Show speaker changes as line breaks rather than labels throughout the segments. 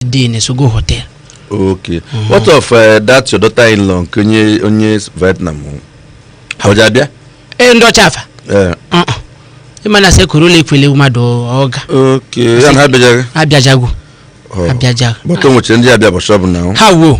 dị na Sogo Hotel okay what of eh, that your daughter in law nke onye onye Vietnam ọ ji abịa ee ndị ọcha afa Eh, Uh-uh. ị ma na sekuru ụlọ ekwele mmadụ ọ ga okay ya na ha bịajaghị abịajago Oh. abịajago but o nwechara ndị abịa bọchị ọbụla ahụ ha wo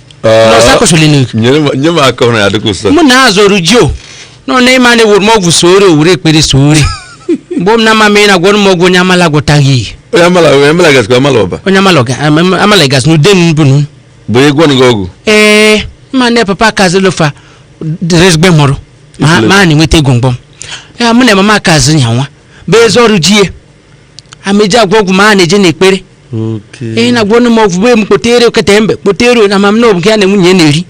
na ọsa kwesịrị n'oge nyere m- nye m aka hụrụ ya dịka ụsa mụ na azọrọ jio nọ na ị ma na ewuru m ọgwụ soore owure ekpere soore mgbe m na ama mee na gwọrọ m ọgwụ onye amala gwọtaghị ihe onye amala onye amala gasịkwa amala ọba onye amala ọga- am- am- amala gasị na ude m bụnụ bụ onye gwọnụ gị ọgwụ ee ma na papa kazilofa dịrịzgbe mụrụ ma ma a na-enweta ego mgbọm ya mụ na mama kazi nyanwa bụ ezi ọrụ ji ya ameji agwọ ọgwụ ma a na-eje n'ekpere Okay. ihe na-agwọ ọnụ m ọgwụ bụ m kpotere okete mbe kpotere onye ama m na ọ bụ nke ya na nwunye na-eri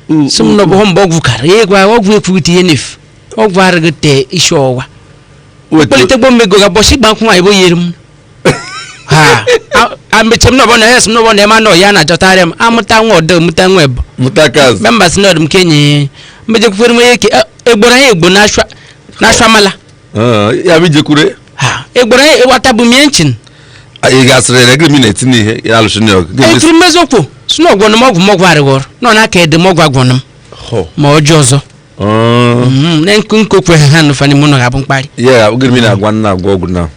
Mm, sị m na ọ bụ mgbe ọgwụ kara ya gwa ọgwụ ekwughịte ihe na-efu ọgwụ arịghị te isi ọwa Weta- kpọlite gbọ mmego ga bọsị gba nkwụ nwaanyị bụ yiri m ha a- ameche m na ọbọ na ya sị m na ọbọ na ema na ọya na-achọtarị m amụta nwa ọdọ mụta nwa ebo mụta kaz mgbe mba si na ọdụ m kenye mmejekwukwere m onye eke egboro anyị egbo na-asụ amala Ah, ya bụ ijekwure ha egbere ịwata bụ mie nchin ị gasịrị ya gịrị m na-eti n'ihe ya alụsị na ọgụ Gịnị etiri m eziokwu si na ọgwọnụ m ọgwụ m ọgwụ arịghọrọ nọ na aka ede m ọgwụ agwọnụ m Hụ. ma ọjọọ ọzọ Ah, Mhm, na nkụ nkụ kwe ha ha nụfa n'ime ụlọ ga-abụ mkparị ya gịrị m na-agwa nna agwa ọgwụ na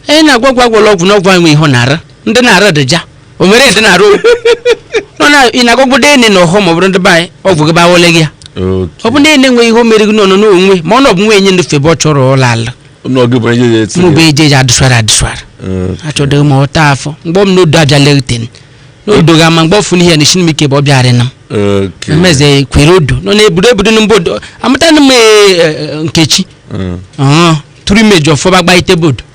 ee na-agwa ọgwụ agwọrọ ọgwụ na ọgwụ enwe ihe ọ na-ara ndị na-ara dịja o nwere ede na-arụ nọ na ị na-agwagbu dị ene na ọhọ ma ọ bụrụ ndị be anyị ọ bụ gị bawole gị ya ọ bụ na-ene nwe ihe o mere gị n'ọnụ n'onwe ma ọ na ọ bụ nwe enye ndofe ebe ọ chọrọ ụlọ ala n'oge bụ onye ga-eti mụ bụ eje eji adụswara adụswara achọdịghị m ọta afọ mgbe m n'odo abịa leguten n'odo ga ama mgbe ọfụ n'ihe na ishinm ike bụ ọ bịara na m emeze kwere odo nọ na-ebudo ebudo na mba odo amụtana m ee, ee, nkechi ọhụ tụrụ imeji ọfọba gbaite bodo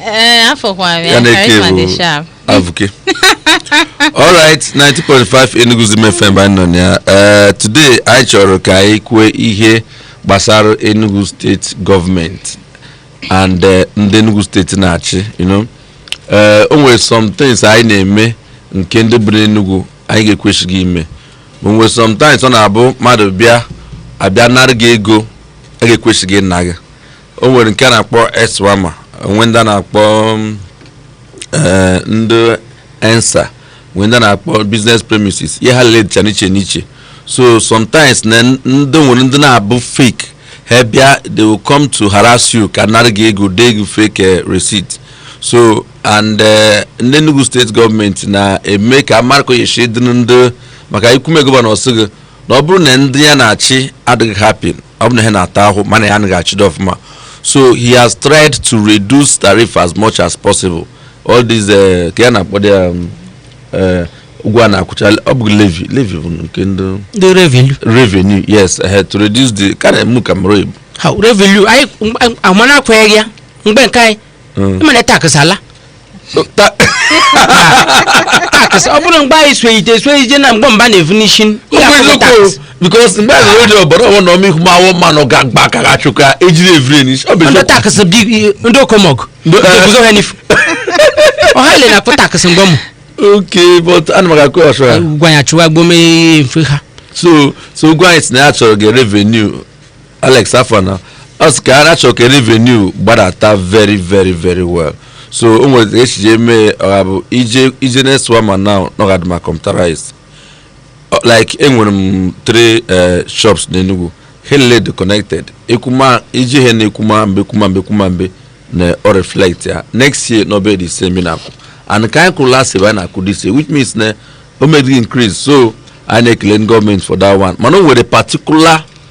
ee afọkwara ya ya na eke charisma dị bụ sharp avuke alright 90.5 Enugu Zim FM anyị nọ na ya Eh, today anyị chọrọ ka anyị kwue ihe gbasara Enugu steeti gọọmenti and eh, ndị Enugu steeti na-achị you know Eh, o nwere some things anyị na-eme nke ndị bu n'Enugu anyị ga-ekwesịghị ime o nwere sometimes ọ na-abụ mmadụ bịa abịa nara gị ego a ga-ekwesịghị ịna gị o nwere nke a na-akpọ ESWAMA o nwee ndị a na-akpọ mm, eh, ndị ensa nwee ndị a na-akpọ business premises ihe ha liile dịcha n'iche n'iche so sometimes na n- ndị nwere ndị na-abụ fake ha bịa they will come to harass you ka nara gị ego dee gị fake eh, receipt so and eh, ndị Enugu steeti gọọmenti na-eme ka a marị kọ ye shi dịrị ndị maka i kwume gọvanọ sị gị na ọ bụrụ na ndị ya na-achị adịghị happy ọ bụrụ na ha na-ata ahụhụ ma na ya anaghị achịdo ọfụma so he has tried to reduce tariff as much as possible all these uh, ke ihe a na-akpọdu ya um, eh, ụgwọ a na-akwụcha ọ bụ levy levy bụ nke ndị ndị revenue revenue yes eh, to reduce the ka na-emu ka mara oyibo ha revenue anyị amana akwenyeghị ya mgbe nke anyị Mm. ị ma na tax ala Ta- tax ọ bụrụ mgbe anyị soyite esoyite na mgbe mbụ na-evu n'isi Ọ bụ eziokwu because mgbe a zụrụ ede ọbara ọnwa na ọmịihu ma awọ mmanụ ga mgba ka ga chụka ejiri evire n'isi ọ bụ ndị eziokwu tax bi ndị okomọgụ Ndị- ndị guzo ha n'ifu ọha ile na-akwụ tax mgbe mbụ okay but ana m aga kwe ọsọ ya gwa ya chụwa gbome mfe ha so so ụgwọ anyị si na ya chọrọ ka revenue alex afana ọ sị ka a na-achọ ka revenue gbadata very very very well so o nwere ka esi jee mee ọ ga-abụ ije ije next one ma now na ọ ga-adị ma computerized Ọ- like enwere m three eh, shops n'Enugu ha niile dị connected ekwuma iji ihe na ekwuma mbe ekwuma mbe ekwuma mbe na ọ reflect ya next year na ọ bịa dị easy m na-akwụ and ka anyị kwụrụ last year bụ anyị na-akwụ this year which means na o meghị increase so anyị na-ekele ndị gọọmenti for that one mana o nwere particular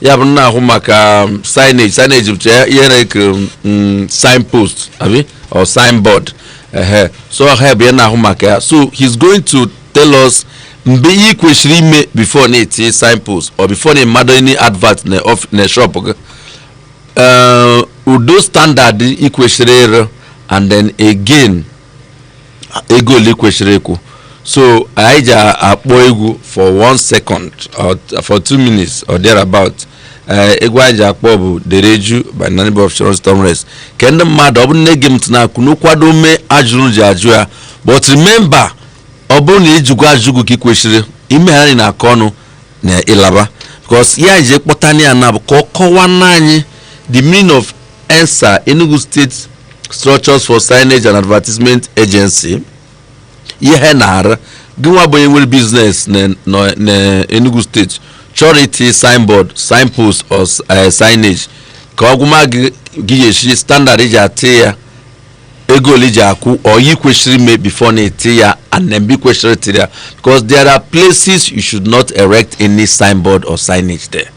ya bụ na-ahụ maka um, signage signage bụcha ya ihe a na-etiri um, signpost abi or signboard ehe so ha ebe ya na-ahụ maka ya so he's going to tell us mgbe ihe ị kwesịrị ime before na ị tie signpost or before na ị mado any advert na of- na shop gị Eh, ụdị standard ị kwesịrị ịrụ and then again ego ole ị kwesịrị ịkwụ so anyị ji akpọ egwu for one second or for two minutes or thereabout ee egwu anyị ji akpọ bụ dereju by nanib of sharon stormres ke ndị mmadụ ọ bụ na-ege m ntị na ka unu kwado mee ajụjụ unu ji ajụ ya but remember ọ bụrụ na ịjụgo ajụgo ka ị kwesịrị ime ha na akọ ọnụ na ịlaba because ihe anyị ji kpọtana ya na bụ ka ọ kọwaara anyị the meaning of enssaa enugu state structures for signage and advertisement agency ihe ha na-arụ gị nwa bụ onye nwere business na- na- na enugu state chọrọ iti signboard signpost or s- eh, signage ka ọ gwama gị gị ga-esi standard i ji eti ya ego ole i ji akwụ or ihe ị kwesịrị ime before na ị tie ya and then ebe ị kwesịrị itiri ya because there are places you should not erect any signboard or signage there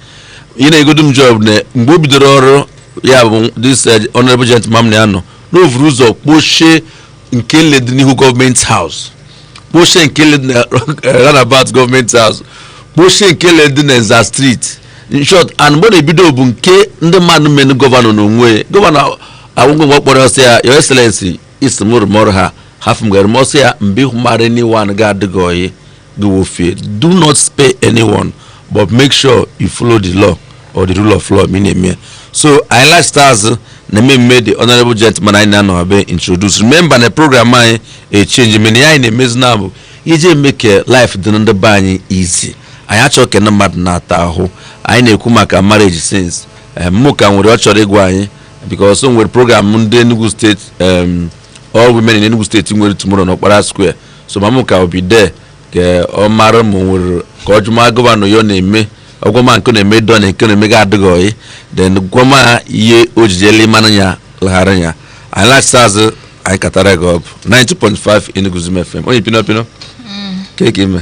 ihe na-enyegodu m joy bụ na mgbe o bidoro ọrụ ya bụ this eh, honorable gentleman m na ya nọ na o vuru ụzọ kpochie nke niile dị n'ihu government house kpochie nke niile dị na roundabout government house kpochie nke niile dị na nza street in short and mgbe ọ na-ebido bụ nke ndị mmadụ menụ gọvanọ n'onwe ya gọvanọ ahụ ngwa ngwa kpọrọ ọ sị ya your excellency ị sị mụ rụọ m ọrụ a hafụ m ka m rụsie ya mgbe ahụ mara niwan ga-adịghị oyi gị wụ fear do not spare anyone but make sure you follow the law or the rule of law ma ị na-eme ya. so anyị laghachita azụ na mmemme the honorable gentleman anyị na ya nọ be introduce remember na program anyị echange mana ihe anyị na-emezi na bụ iji eme ka life dị na ndị be anyị easy anyị achọghị ka ndị mmadụ na-ata ahụhụ anyị na-ekwu maka marriage since eh, mụ ka nwere ihe ọ chọrọ ịgwa anyị because o nwere program ndị Enugu steeti em, all women in Enugu steeti nwere tomorrow n'Okpara square so ma mụ ka obi dee ka ọ mara ma o nwere ka ọ jụma gọvanọ ihe ọ na-eme ọ gwa m nke na-eme dọ na nke na-eme ga adịghị oyi then gwa m ihe o jijele mmanụ ya laghara ya anyị laghachita azụ anyị katara gị ọ bụ 92.5 Enugu's Dream FM onye pino pino keke ime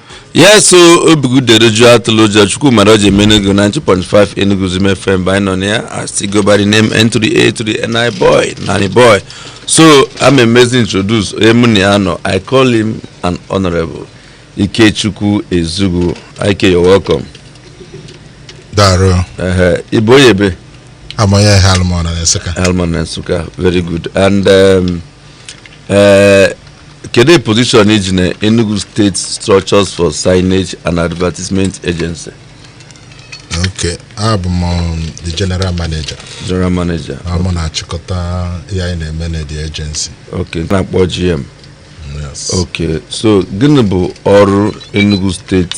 ya so obi gị dere jụụ atụla ụjọ chukwu mara o ji eme enugu 92.5 enugu's dream fm ebe anyị nọ na ya as i go by the name n to the a to the n i boi nani boi so am emezi introduce onye mụ na ya nọ i call him an honorable ikechukwu ezugwu ike you're welcome darụ Ehe, ị bụ onye ebe abụ m onye eha alụmọna na nsụka alụmọna na nsụka very good and um, eh, kedu position i ji na enugu state structures for signage and advertisement agency okay abụ m um, the general manager general manager ọ mụ na-achịkọta ihe anyị na-eme na the agency okay a na-akpọ gm yes okay so gịnị bụ ọrụ enugu state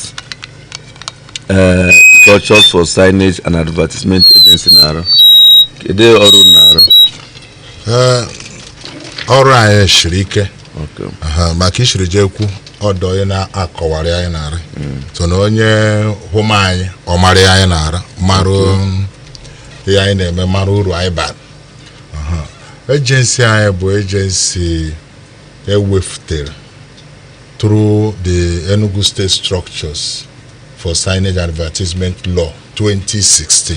eh, structures for signage and advertisement agency na-arụ kedu ọrụ ọ na-arụ Ee, ọrụ anyị siri ike Okay. Aha, maka i siri jee kwu ọdọ onye na-akọwa ihe anyị na-arụ so na onye hụma anyị ọ mara ihe anyị na-arụ mara ihe anyị na-eme mara uru anyị bara Aha. ejensi anyị bụ ejensi e wefutere through the Enugu State Structures for Signage Advertisement Law 2016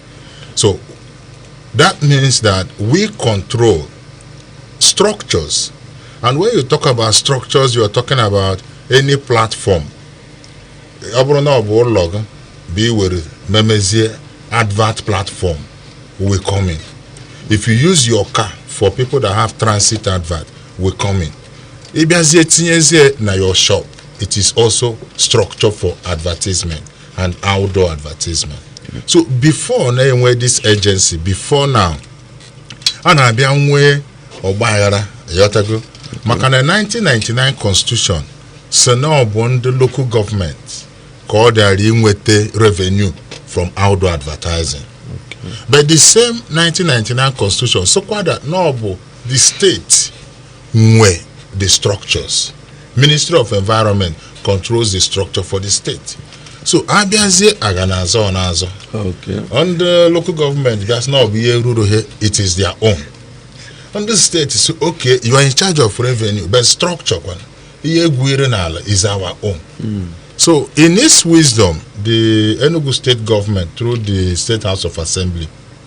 So that means that we control structures. And when you talk about structures, you are talking about any platform. ọ bụrụ na ọ bụ ụlọ gị bụ iwere memezie advert platform we come in if you use your car for people that have transit advert we come in ịbịazie tinyezie na your shop it is also structure for advertisement and outdoor advertisement so before anyị enwee this agency before now a na-abịa nwee ọgbaaghara ị ghọtago maka na 1999 constitution sị na ọ bụ ndị local gọọmenti ka ọ dịara inweta revenue from outdoor advertising but the same 1999 constitution sịkwada na ọ bụ the state nwe the structures ministry of environment controls the structure for the state so a bịazie a ga na-azọ na-azọ Okay. ndị local gọọmenti ga-asị na ọ bụ ihe ruru ha it is their own ndị steeti sị okay you are in charge of revenue but structure kwana ihe e gwuru n'ala is our own so in its wisdom the enugu state government through the state house of assembly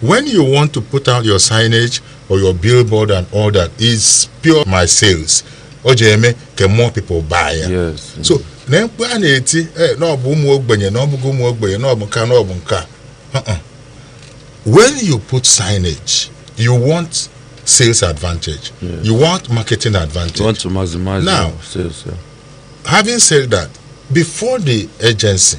When you want to put out your signage or your billboard and all that, it's pure my sales. O ji eme ka more people buy ya. Yes. So na mkpu a na-eti eh, na ọ bụ ụmụ ogbenye na ọ bụghị ụmụ ogbenye na ọ bụ nka na ọ bụ nka. Uh-uh. When you put signage, you want sales advantage. You want marketing advantage. You want to maximize Now- your sales. Yeah. Having said that, before the agency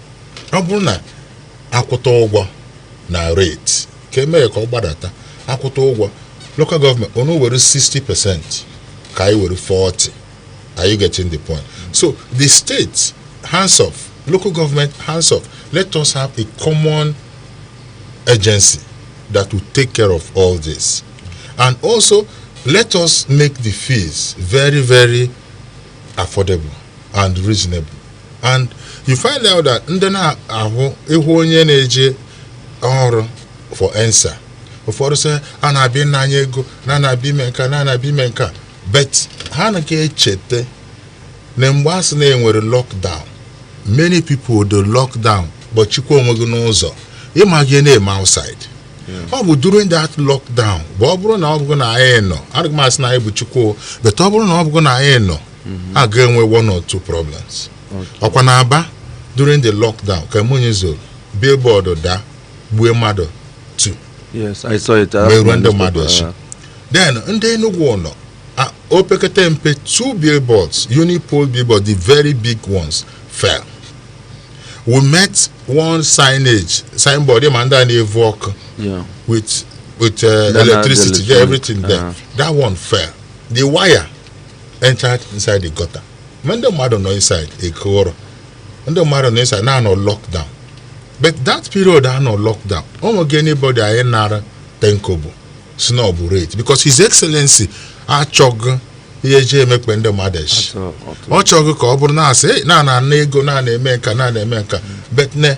ọ bụrụ na a kwụta ụgwọ na rate ka e mee ka ọ gbadata a kwụta ụgwọ local government unu were 60 percent ka anyị were 40 are you getting the point so the state hands off local government hands off let us have a common agency that will take care of all this and also let us make the fees very very affordable and reasonable and you find out that ndị na-ahụ ị hụ onye na-eje ọrụ for ENSSAA ụfọdụ sị a na-abịa ịna anyị ego na a na-abịa ime nka na a na-abịa ime nka but ha anaghị echeta na mgbe a sị na e nwere lockdown many people dị lockdown gbachikwa onwe gị n'ụzọ ị maghị ihe na-eme outside ọ bụ during that lockdown bụ ọ bụrụ na ọ bụghị na anyị nọ adịghị m asị na anyị bụ Chukwu o, but ọ bụrụ na ọ bụghị na anyị nọ a ga-enwe one or two problems ọkwa na Aba during the lockdown ka minyi zoro billboard daa gbue mmadụ two yes i saw it Merụọ ndị mmadụ eshi. then ndị Enugu ụlọ a- o pekata mpe two billboards unipole billboard the very big ones fell we met one signage signboard ị ma ndị a na-evu ọkụ yeah with with uh, Then, uh, electricity, the yeah, everything there. Uh-huh. That one fell. The wire entered inside the gutter ma ndị mmadụ nọ inside e kwuru ndị mmadụ nọ inside na a nọ lockdown but that period a nọ lockdown o nweghị anybody anyị nara ten kobo sị na ọ bụ rate because his excellency achọghị ihe e ji emekpa ndị mmadụ eshi ọ chọghị ka ọ bụrụ na a sị "Hey, na a na-ana ego na a na-eme nka na a na-eme nka but ne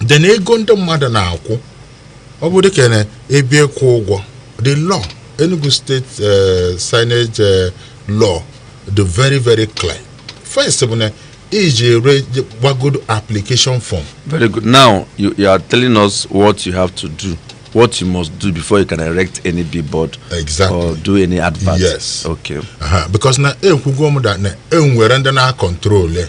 de na ego ndị mmadụ na-akwụ ọ bụ dịka na ebe ịkwụ ụgwọ the law Enugu State eh, signage eh, law dị very very clear first bụ na i je-edebagodo application form Very good. Now you, you are telling us what you have to do, what you must do before you can erect any billboard Exactly. or do any advert. Yes. Okay. Aha, because na ekwugo m da na e nwere ndị na-acontrol ya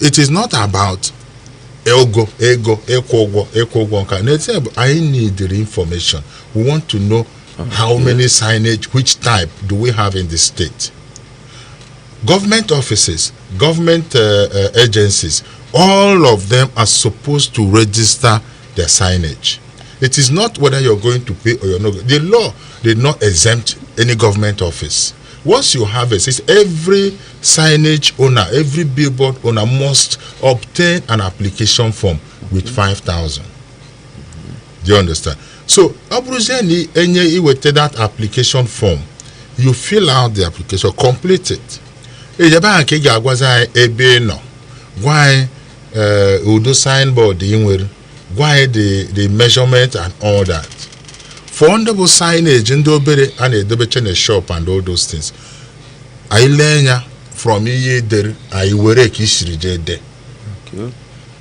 it is not about ego ego ịkwụ ụgwọ ịkwụ ụgwọ nka n'ezie bụ anyị need the information we want to know how many signage which type do we have in the state government offices government uh, uh, agencies all of them are supposed to register their signage it is not whether you're going to pay or you're not the law did not exempt any government office Once you have a system, every signage owner, every billboard owner must obtain an application form with 5,000. Do you understand? So, ọ bụrụzie na e nye i weta that application form, you fill out the application, complete it. Ebe ahụ ka ị ga-agwazi anyị ebe ị nọ, gwa anyị eh, ụdị signboard i nwere gwa anyị the the measurement and all that for ndị bụ signage ndị obere a na-edobecha na shop and all those things anyị lee anya from ihe i dere anyị ewere ka i siri jee dee Okay.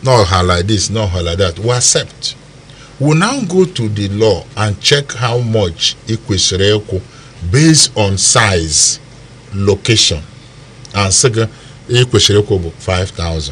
na ọ ha like this, na ọ ha like that. We accept. We now go to the law and check how much i kwesịrị ịkwụ based on size, location, and sị gị i kwesịrị ịkwụ bụ 5,000.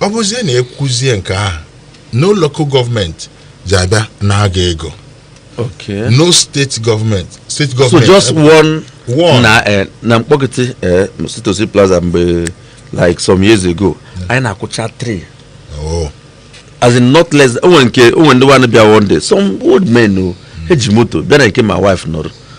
ọ bụzie na i kwụzie nke ahụ no local gọọmenti ji abịa ana gị ego okay no steeti gọọmenti steeti so gọọmenti just one One. na eh, na Mkpọkịtị eh, C to C Plaza mgbe like some years ago anyị na-akwụcha three Oh, as in not less o nwere nke o nwere ndị nwanne bịa one day some old men ha eji moto bịa na nke my wife nọrọ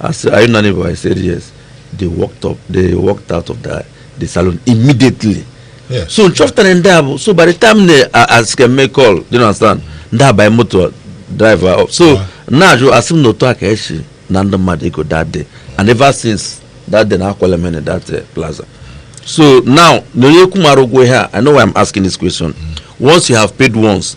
I said, are you not neighbor? I said, yes. They walked up, they walked out of the, the salon immediately. Yeah. So m chọpụtara ndị a bụ so by the time they uh, asị ka m make call, do you understand? Ndị a baa moto drive off. So Yeah. na-ajụ asị m na otu a ka e si ana ndị mmadụ ego that day and ever since that day na akwala mene that uh, plaza. So now na onye akwụmara ụgwọ ihe a, I know why I'm asking this question. Once you have paid once,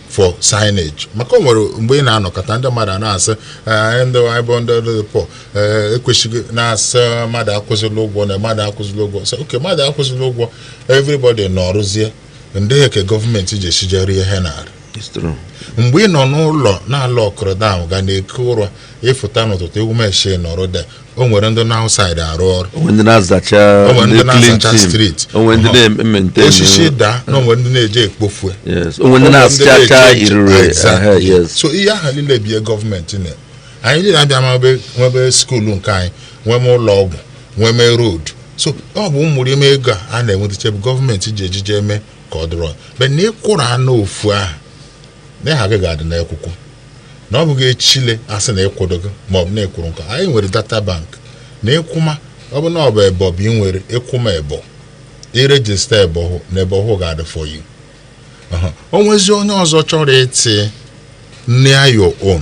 for signage maka o nwere mgbe ị na-anụkata ndị mmadụ a na-asị "Eh, ndị anyị bụ ndị dị poor ekwesịghị na-asị mmadụ akwụzịla ụgwọ na mmadụ akwụzịla ụgwọ sị okay mmadụ akwụzịla ụgwọ everybody nọrụzie ndị eke gọọmenti ji esijere ihe narị It's true. mgbe ị nọ n'ụlọ na-alụ ọkụrụ dam gị na-eku ụra ị fụta n'ụtụtụ ewumeshi na road o nwere ndị nọ outside arụ ọrụ o nwe ndị na-azacha O nwere ndị ndị clean na-azacha team. street. o nwe ndị Ọhọ. na-eme nke osisi daa na o nwere ndị na-eje ekpofue yes o nwe ndị na-asacha irure Exactly. ehe, yes so ihe ahụ niile bụ ihe gọọmenti na anyị niile abịa ma ebe- nwebe skuulu nke anyị nwee ma ụlọ ọgwụ nwee ma road so ọ bụ mmụrụ ime ego a a na-enwetacha ebe gọọmenti ji ejije eme ka ọ dịrọ but na ị kwụrụ anụ ofu ahụ na aha gị ga-adị n'akwụkwọ na ọ bụghị echile a sị na ị kwụdoghị ma ọ bụ na ị kwụrụ nke a anyị nwere data bank na ị kwụma ọ bụ na ọ bụ ebe ọ bụ i nwere ị kwụma ebe ọ i register ebe ahụ na ebe ahụ ga-adị for you Aha. o nwezi onye ọzọ chọrọ iti near your own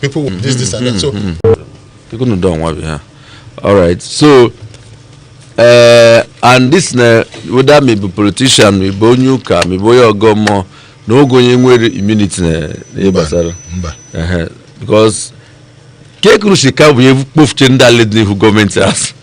people will this this and that so People no don want yeah. All right. So uh, and this na whether ma ị bụ politician, ma ị bụ onye ụka, ma ị bụ onye ọgọ mmụọ, na o nweghị onye nwere immunity na ihe gbasara. mba Ehe. Because ka e kwuru sị ka bụ ihe kpofuche ndị ala dị n'ihu government house.